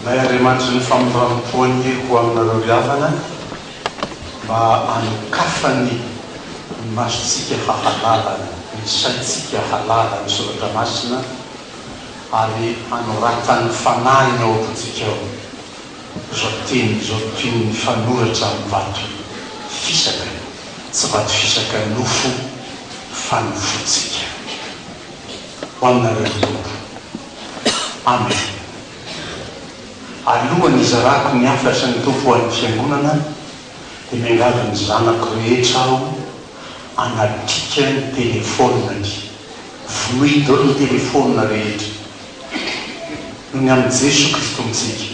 May Andriamanitry ny famindram-poany ho aminareo ry havana mba anokafany ny masontsika hahalala, ny saintsika hahalala ny soratra masina ary hanoratany fanahiny ao am-pontsika ao. Izao teny izao toy ny fanoratra amin'ny vato fisaka, tsy vato fisaka nofo fa nofontsika. Ho aminareo ry Tompo. Amen. Alohan'ny hizarako ny hafatry ny Tompo ho an'ny Fiangonana dia miangavy ny zanako rehetra aho hanatrika ny telefaoniny. Vonoy daholo ny telefaonina rehetra. Ny amin'i Jeso Kristontsika.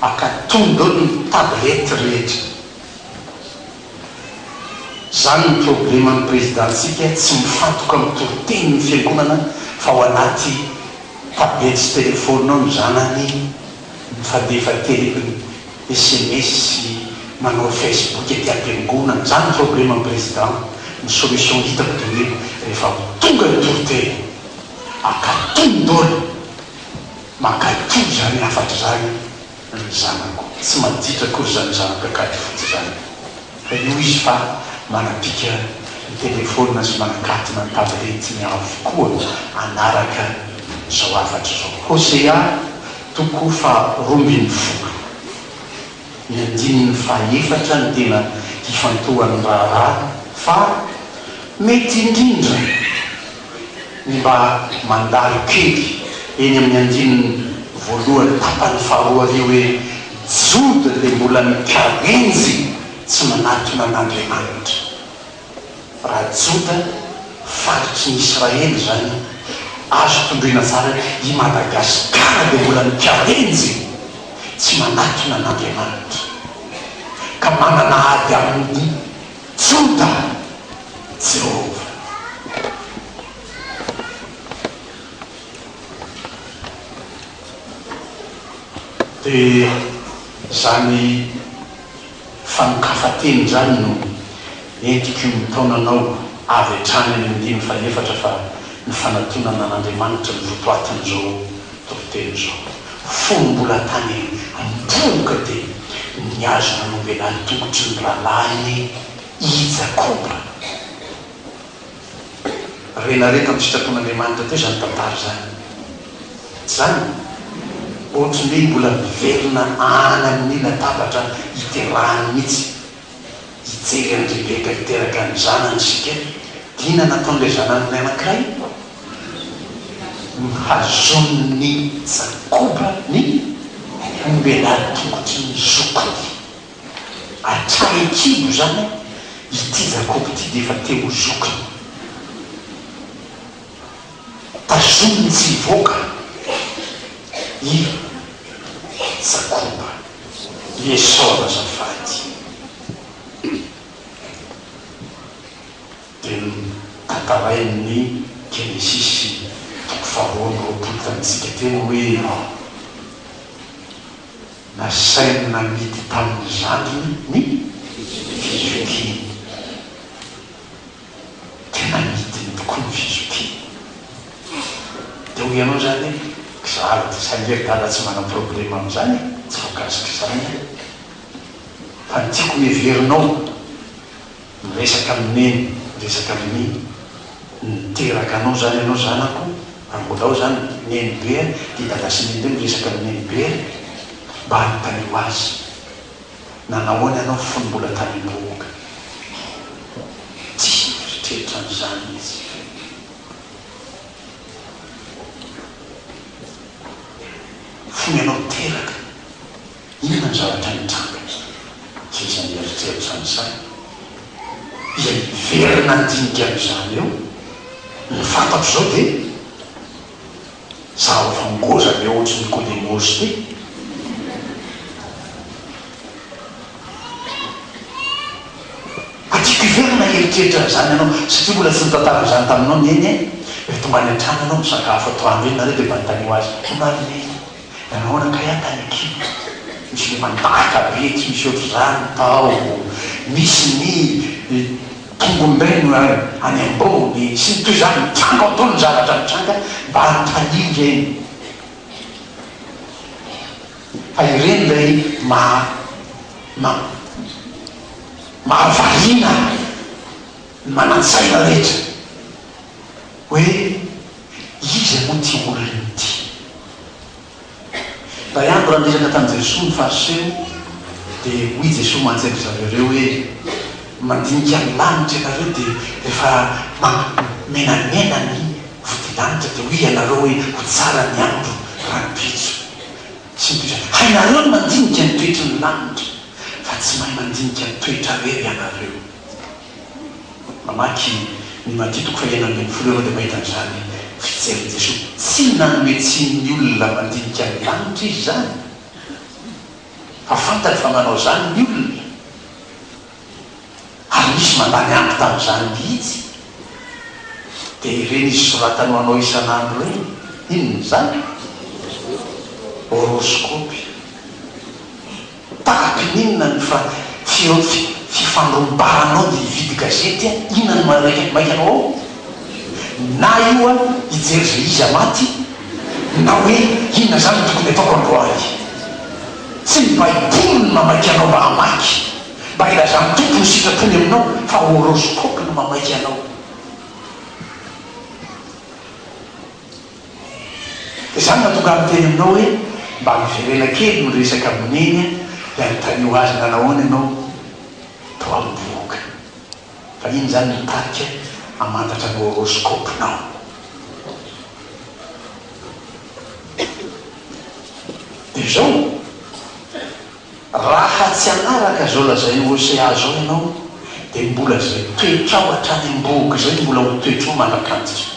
Aka tondro ny tablette rehetra. Zany ny probleman'ny Prezidantsika tsy mifantoka amin'ny toritenin'ny fiangonana fa ao anaty tablette sy telephone ao ny zanany mifandefa telefony sms sy manao facebook aty ampiangonana. Zany ny probleman'ny President. Ny solution hitako dingeko rehefa tonga ny toriteny. Ankatoy ny dôla! Mankaiky io izany hafatra izany ry zanako! Tsy maditra akory izany zanak'Ankady fotsy izany fa io izy fa manapika ny telefaonina sy manakatona ny tabletiny avokoa hanaraka izao hafatra izao. Hosea toko faharoa ambin'ny folo, ny andininy fahaefatra no tena hifantohan'ny raharaha fa mety indrindra. ny mba mandalo kely eny amin'ny andininy voalohany tapany faharoa ary hoe, Jody dia mbola mikarenjy tsy manatona an'Andriamanitra. Raha Joda, faritry ny Israely izany, azo tondroina tsara, i Madagasikara dia mbola mikarenjy tsy manatona an'Andriamanitra ka manana ady aminy. Juda, Jehovah. Dia izany fanokafa-teny izany no entiko mitaona anao avy hatrany amin'ny andininy fahefatra fa ny fanatonana an'Andriamanitra no votoatin'izao Toriteny izao, fony mbola tany am-bohoka dia nihazo nanombelà ny tongotry ny rahalahiny i Jakoba. Renare tamin'ny sitrapon'Andriamanitra teo izany tantara izany. Tsy izany ve? Ohatry ny hoe mbola miverina any amin'ny latabatra iterahany mihitsy hijery an'ilay bebe niteraka ny zanany isika, dia inona no nataon'ilay zanan'olona anankiray? Nohazonin'i Jakoba ny ombelà tongotry ny zokiny. Hatrany an-kibo izany, ity Jakoba ity dia efa te ho zokiny. Tazomy tsy hivoaka i Jakoba, i Esao azafady. Dia notantarain'ny Genesisy toko faharoa amby roapolo tamintsika teny hoe, Nasainy namidy tamin'ny zandriny ny fizokiany. Tena midiny tokoa ny fizokiana. Dia hoy ianao izany hoe, Kizara dia sahirindala tsy manana problème amin'izany e! Tsy voakasika izany aho. Fa ny tiako heverinao, miresaka amin'i Neny, miresaka amin'i Mimy, niteraka anao izany ianao zanako, raha mbola ao izany Nenibe dia Dada sy Nenibe miresaka amin'i Nenibe, mba hanontaniako azy. Nanahoana ianao fony mbola tany am-bohoka? Tsy nieritreritra an'izany izy. Fony ianao teraka, inona ny zavatra nitranga? Tsy nisy nieritreritra an'izany. Dia niverina ny dinik'izany eo. Ny fantatro izao dia. Zava fa ngoza ny ohatry ny kodemozy ty. Ka tiako hiverina hieritreritra an'izany ianao satria mbola tsy nitantara an'izany taminao ny Neny e! Dia tonga any an-trano ianao misakafo atoandro iny nareo dia manontanio azy, omaly Neny nanao ahoana kay aho tany Kim? Misy le mandaka be tsy misy ohatr'izany tao, misy ny. Kongombeno ary any ambony sy ny toy izany, mitranga ao an-doha ny zavatra mitranga mba hanontaniana ireny fa ireny ilay maha ma mahavariana ny manan-tsaina rehetra hoe iza moa ity olona ity? Daiandro raha niresaka tamin'i Jesoa ny Fariseo dia hoy Jesoa mantsy an-dry zareo ireo hoe, Mandinika ny lanitra ianareo dia rehefa menamena ny vodilanitra dia hoy ianareo hoe, Ho tsara ny andro rahampitso. Tsy mitovy. Hainareo ny mandinika ny toetry ny lanitra fa tsy mahay mandinika ny toetrareo ianareo. Mamaky ny Matia toko faha enina ambin'ny folo ianao dia mahita an'izany fijerin'i Jesoa tsy nanome tsiny ny olona mandinika ny lanitra Izy izany, fa fantany fa manao izany ny olona, ary nisy mandany ampy tamin'izany mihitsy. Dia ireny Izy soratany ho anao isan'andro ireny, inona izany? Horoscopy. Tahaka ny inona ny fa fifandrombaranao dia hividy gazety a! Inona no manarehetra maika anao ao? Na io a hijery izay iza maty na hoe inona izany no tokony ataoko androany. Tsy ny baiboly no mamaika anao mba hamaky, mba hilazan'ny Tompo ny sitrapony aminao fa horoscope no mamaika anao. Izany no nahatonga ahy niteny aminao hoe mba miverena kely ny resaka amin'i Neny a! dia anontanio azy nanahoana ianao tao amin'ny bohoka fa iny izany no tarika hamantatra ny horoscope-nao. Dia izao, raha tsy hanaraka izao lazain'i Hosea izao ianao dia mbola izay toetrao hatrany am-bohoka izay no mbola ho toetrao mandrak'antsika.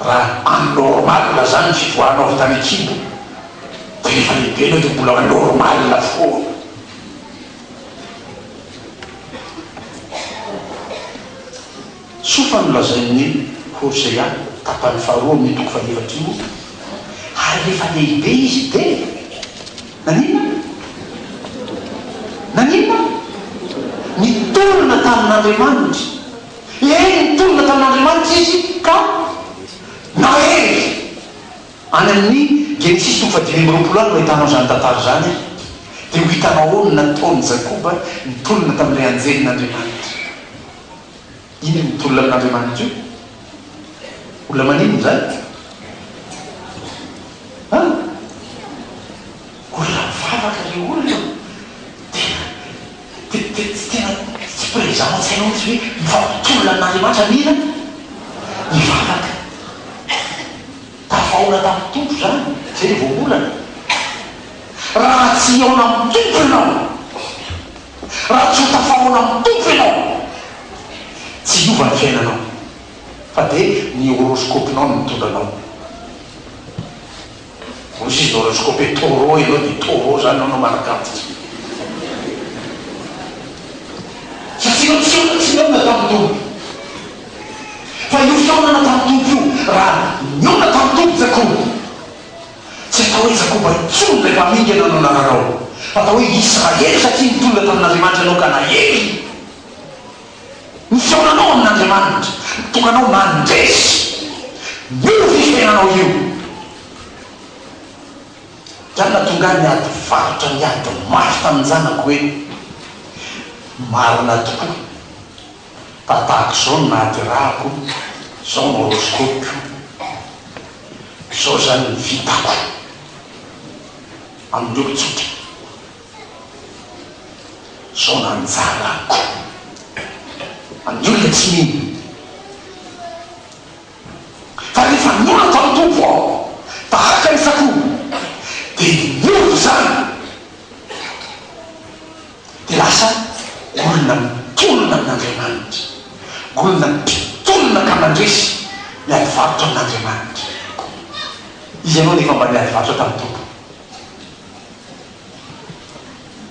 Raha en normal zany ny fivoahanao avy tany an-kibo dia rehefa lehibe ianao dia mbola normal foana. Soa fa nolazain'i Hosea tapany faharoa amin'io toko fahefatra io, Ary rehefa lehibe izy dia naninona? Naninona? Niterana tamin'Andriamanitra. Hery nitondra tamin'Andriamanitra izy ka nahery. Any amin'ny Genesisy toko fahadimy amby roapolo any no ahitanao izany tantara izany, dia ho hitanao ao ny nataon'i Jakoba nitolona tamin'ilay anjelin'Andriamanitra. Inona io mitolona amin'Andriamanitra io? Olona maninona izany? An? Olona mivavaka ilay olona. Dia Tsy tena tsy présent an-tsainao mihitsy hoe mifampitolona amin'Andriamanitra mila hivavaka. Tafahoana tamin'ny Tompo izany, izay no voambolana. Raha tsy hihaona amin'ny Tompo ianao, raha tsy ho tafahoana amin'ny Tompo ianao, tsy hiova ny fiainanao fa dia ny horoscope-nao no mitondra anao. Hoy sisa horoscope taureau ianao dia taureau zany ianao no manaka antitra. Sa tsy ianao tsy tsy nihaona tamin'ny Tompo? Fa io fihaonana tamin'ny Tompo io, raha nihaona tamin'ny Tompo Jakoba, tsy atao hoe Jakoba intsony ilay mpamingana no nararao, fa atao hoe Israely satria nitondra tamin'Andriamanitra ianao ka naheriny. Ny fihaonanao amin' Andriamanitra mitokanao mandresy io fifehanao io. Za natonga ny ady varotra niady mafy tamin'ny zanako hoe marina tokoa fa tahaka izao no nahaterahako, izao no horoscopiko, izao izany ny vitako amin'ny olon-tsotra. Zao no anjarako amin'ny olona tsy mino. Fa ny vanin'olona tao amin'ny Tompo aho, tahaka ny sakoa, dia niova izany, dia lasa olona mitolona amin'Andriamanitra, olona mpitolona ka mandresy ny adivarotra amin'Andriamanitra. Izy ianao anefa mba niadivarotra tamin'ny Tompo.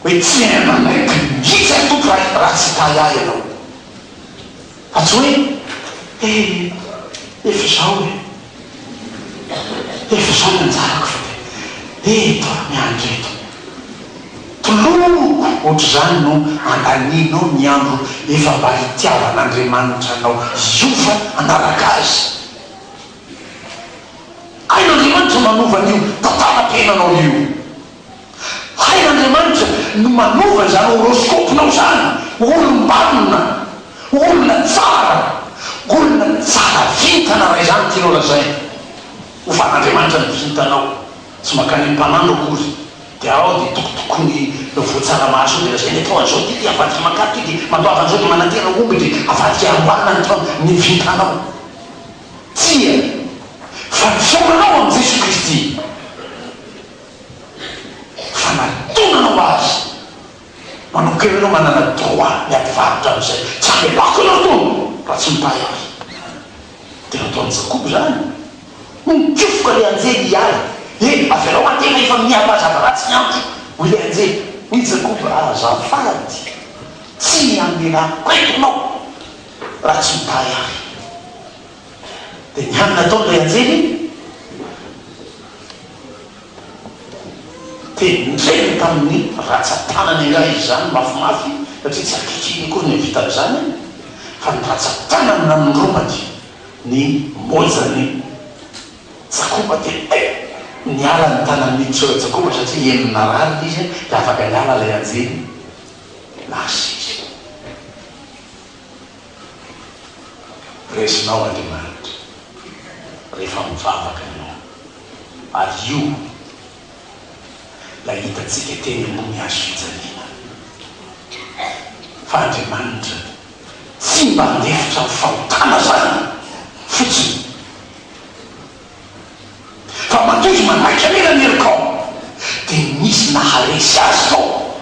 Hoe tsy hain manaiky mihitsy ry Tompoko raha raha tsy hitahy ahy ianao. Fa tsy hoe he efa izao e, efa izao ny anjarako fa dia eto aho miandry eto. Toloko ohatr'izany no andanianao ny andro efa mba hitiavan'Andriamanitra anao hiova hanaraka Azy. Hain'Andriamanitra manova an'io tantaram-piainanao io. Hain'Andriamanitra no manova izany horoscope-nao izany ho olom-banona, ho olona tsara, olona tsara vintana raha izany no tianao lazaina. Ho fan'Andriamanitra ny vintanao, tsy mankany amin'ny mpanandro akory, dia ao dia tokotokony voa tsara mahasoa dia lazaina hoe taona izao ity dia avadika mankatoky, dia mandoava an'izao dia manantena omby dia avadika amboarina ny taona, ny vintanao. Tsia, fa ny fihaonanao amin'i Jesoa Kristy, fanatonana ho Azy, manomboka eo ianao manana droit ny hampivarotra an'izay. Tsy hamelako ianao itony raha tsy mitahy Ahy. Dia nataon'i Jakoba izany. Hoy nikofoka ilay anjely hiala. Eny, avelao aho tena efa mihazava ratsy ny andro, hoy ilay anjely. Hoy i Jakoba, Azafady, tsy hamelako eto ianao. raha tsy mibahy ahy. Dia nianina tao ilay anjely, dia nirehiny tamin'ny ratsan-tanany angaha izy izany mafimafy, satria tsy ankehitriny akory no vitany izany, fa ny ratsan-tanany nanondrombany ny mojany Jakoba, dia eh! niala ny tanan'i Nitsora Jakoba, satria henony narary ilay izy, dia afaka niala ilay anjely, nahazo izy. resinao Andriamanitra rehefa mivavaka ianao ary io ilay hitantsika teny ambony hazo fijaliana fa Andriamanitra tsy mba handefitra ny fahotana zany fotsiny fa mandoto manaiky anela ny herikao dia misy naharesy azy tao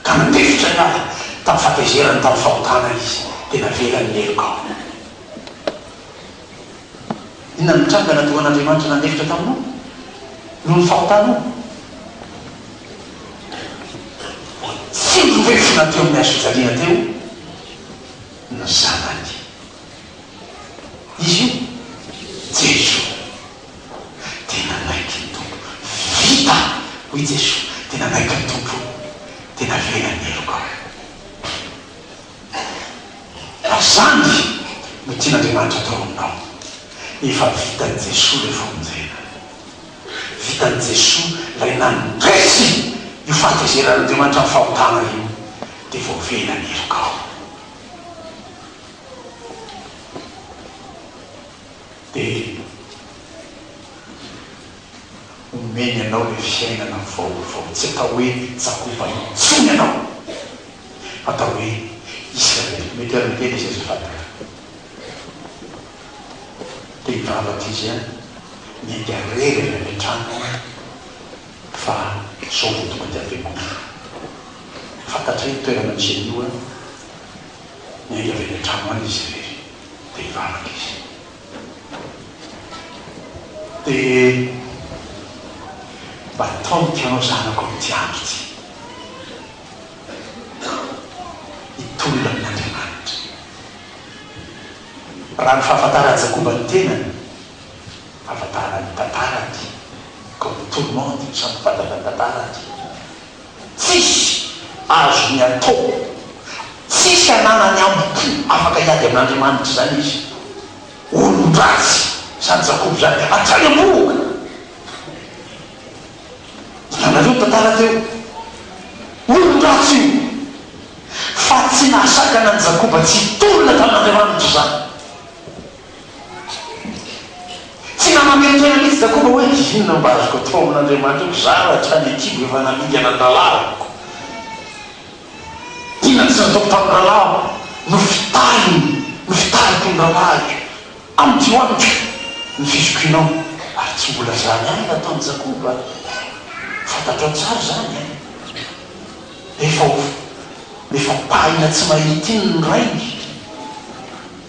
Ka nandefitra ny ady tamin'ny fahatezerany tamin'ny fahotana izy, dia navelany ny heloka ao aminy. Inona no nitranga nadoan'Andriamanitra nandefitra taminao noho ny fahotanao? Tsy nirefona teo amin'ny hazofijaliana teo ny zanany. Izy io, Jesoa. Tena naiky ny Tompo. Vita! hoy Jesoa. Tena naiky ny Tompo. Tena velona ny heloka aho. Raha izany no tian'Andriamanitra atao aminao, efa vitan'i Jesoa ilay famonjena. Vitan'i Jesoa ilay nandresy io fahatezeran'Andriamanitra ny fahotana io, dia vao velona ny helokao. dia omeny anao ilay fiainana vaovao, tsy atao hoe Jakoba intsony ianao, fa atao hoe Israely. Mety ary miteny izy azafady ka. Dia hivavaka izy an, miainga irery avy any an-tranony an, fa sao dia tonga dia avy andro. Fantatray ny toerana misy an'io an, miainga avy any an-trano any izy irery. dia hivavaka izy. Dia mba ataoviko ianao zanako amin'ity andro ity hitolona amin'Andriamanitra. Raha ny fahafantaran'i Jakoba ny tenany, fahafantarana ny tantarany, comme tout le monde, samy fantatra ny tantarany, Tsisy azony atao. Tsisy ananany ambo-po afaka hiady amin'Andriamanitra izany izy. Olon-dratsy izany Jakoba izany hatrany am-bohoka. Hitanareo ny tantara teo? Olon-dratsy io. Fa tsy nahasakana an'i Jakoba tsy hitolona tamin'Andriamanitra izany. Tsy naman'ireo tena mihitsy za koba hoe inona mba azoko atao amin'Andriamanitra ko za raha hatrany Akibo efa namidy an'Andalahy ko. Inona tsy nataoko tamin'ny rahalahiko no fitahiny no fitahiko ny rahalahiko amin'ity ho amiko ny fizokinao ary tsy mbola zany ihany no ataon'i Jakoba fantatrao tsara zany e! Efa ho efa pahina tsy mahita iny ny rainy.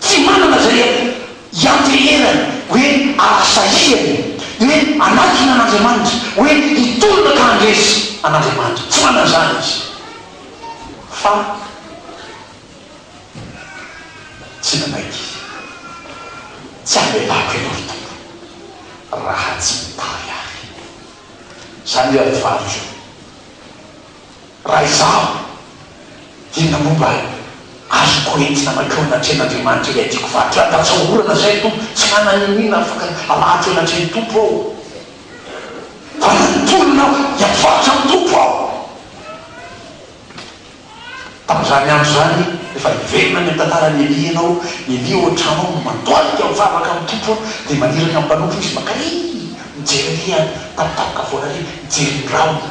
Tsy manana izay hianteherany hoe ahasahiany ny hoe hanakina an'Andriamanitra, hoe hitolona ka handresy an'Andriamanitra. Tsy manana izany izy. Fa tsy nanaiky izy. Tsy hamelako ianao ry Tompo raha tsy mitary ahy. Izany io ady varotra io. Raha izaho dia na momba azoko entina mankeo anatrehan' Andriamanitra ilay tiako faty, raha tatsahorana izay ny Tompo, tsy hanana iniana afaka hamaty eo anatrehan'ny Tompo aho, fa raha nitolona aho dia mpivarotra amin'ny Tompo aho. Tamin'izany andro izany, efa hiverina any amin'ny tantaran'i Elia ianao, i Elia ao an-trano ao no mandohalika mivavaka amin'ny Tompo an, dia maniraka ny mpanompony izy, Makary! mijery ery an, tapitapaka foana ery, mijery ny rahona.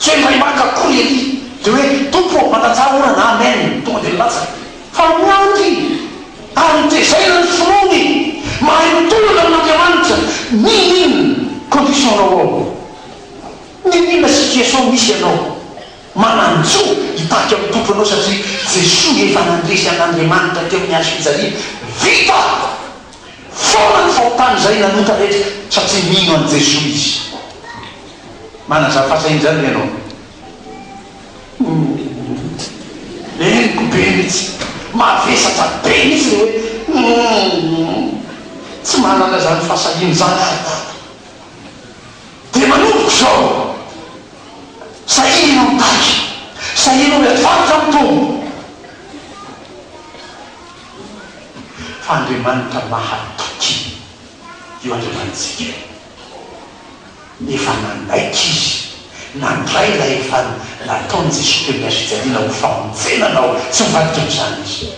Kely ray maka akory ery de hoe Tompo ô mandatsaha orana amen tonga de nilatsaka fa miandry ary hotezaina ny finoany mahay mitolona amin'Andriamanitra n'inon'inona condition nao ao n'inon'inona situation misy ianao mananjo hitarika amin'ny Tompo ianao satria Jesoa efa nandresy an'Andriamanitra teo amin'ny hazo fijaliana vita foana ny fahotany izay nanota rehetra satria mino an'i Jesoa izy. Manazava fahasahian'izany ve ianao? Uum. Henoko be mihitsy. Mavesatra be mihitsy ny hoe uum. Tsy manana izany fahasahiana izany aho dada. Dia manomboka izao. Sahia ianao mitaky. Sahia ianao miady varotra amin'ny tombo. Fa Andriamanitra mahatoky io Andriamanitsika io. nefa nanaiky izy nandray ilay efa nataon'i Jesoa teo ilay fijaliana ho famonjenana aho, tsy ho vadiko amin'izany izy.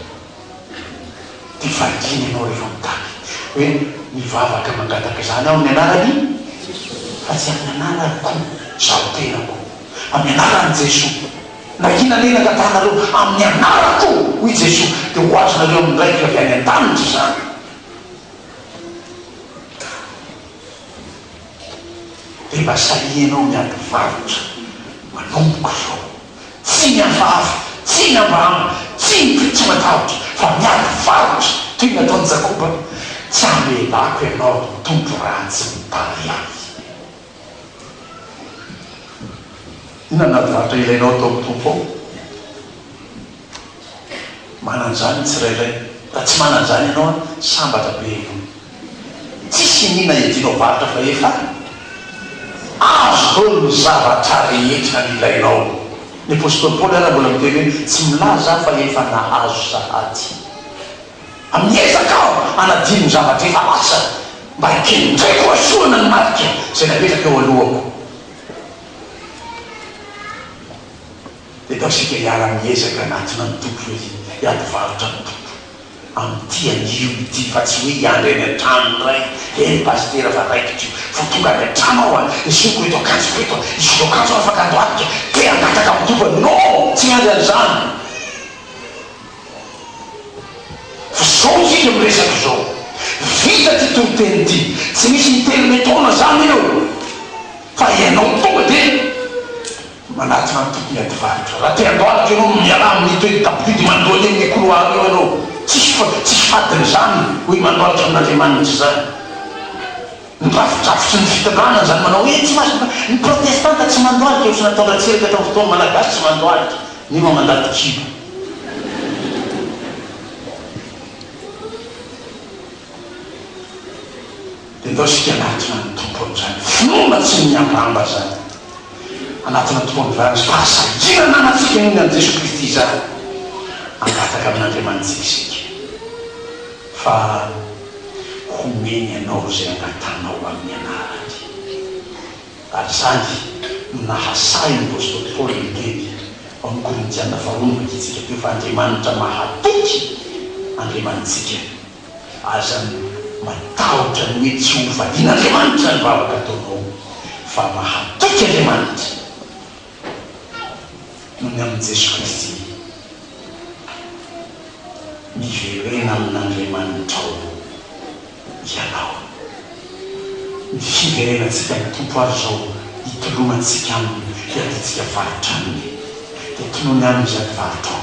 Dia variana ianao rehefa mitady hoe mivavaka mangataka izany aho amin'ny anaran'i fa tsy amin'ny anarako izaho tenako, amin'ny anaran'i Jesoa, na inona na inona angatahanareo amin'ny anarako hoy i Jesoa dia ho azonareo amin'ny Raiko avy any an-danitra izany. Dia mba sahia ianao miady mivarotra, manomboka izao. Tsy ny hafahafa, tsy ny ambahamba, tsy ny be tsy matahotra, fa miady varotra toy ny ataon'i Jakoba. Tsy hamelako ianao hitombo raha tsy mitahy ahy. Inona no ady varotra ilainao atao amin'ny Tompo ao? Manan'izany ny tsirairay. Raha tsy manan'izany ianao an, sambatra be aloha. Tsisy iniana iadianao varotra fa efa azo daholo ny zavatra rehetra ilainao. Ny apostoly Paoly ary mbola miteny hoe, tsy milaza aho fa efa nahazo sahady. Amin'ny ezaka aho hanadino ny zavatra efa lasa, mba hikendreko hahazoana ny marika izay napetraka eo alohako. dia ataontsika hiara-miezaka hanatona ny Tompo hoe hiady varotra ny Tompo amin'ity anio ity fa tsy hoe hiandry any an-trano indray, eny Pasitera fa raikitra io vao tonga any an-trano aho an, esoriko eto akanjoko eto an, esoriko akanjo aho fa ka handohalika, te hangataka amin'ny Tompo an, non! tsy hiandry an'izany fa izao isika miresaka izao, vita ity toriteny ity, tsy misy interneton-na izany eo fa ianao tonga dia Manatona ny tokony ady varotra. Raha te handohalika ianao, mialà amin'ny toery tabohidy mandoa eny amin'ny couloir eo ianao. Tsisy fa tsisy fadiny izany, hoy mandohalika amin'Andriamanitra izany. Ny drafidrafitry ny fitondrana izany manao hoe tsy mahazo, ny protestanta tsy mandohalika, ohatrany nataon-dRatsiraka tamin'ny fotoan'ny Malagasy tsy mandohalika, nefa mandady kibo. Enao isika hanatona ny Tompo amin'izany finoana tsy miambamba izany. Hanatona ny Tompo amin'izany fahasahiana ananantsika inoany an'i Jesoa Kristy izany. Hangataka amin'Andriamanitsika isika fa homeny anao izay angatanao amin'ny anarany. Ary izany no nahasahin'ny apostoly Paoly niteny ao amin'ny Korintiana faharoa novakintsika teo fa Andriamanitra mahatoky Andriamanitsika. Aza matahotra ny hoe tsy ho vadian'Andriamanitra ny vavaka ataonao fa mahatoky Andriamanitra noho ny amin'i Jesoa Kristy. Miverena amin'Andriamanitrao ianao. Ny fiverenantsika ny Tompo ary izao hitolomantsika Aminy hiadiantsika faritra Aminy dia tolomy Aminy izany varotrao.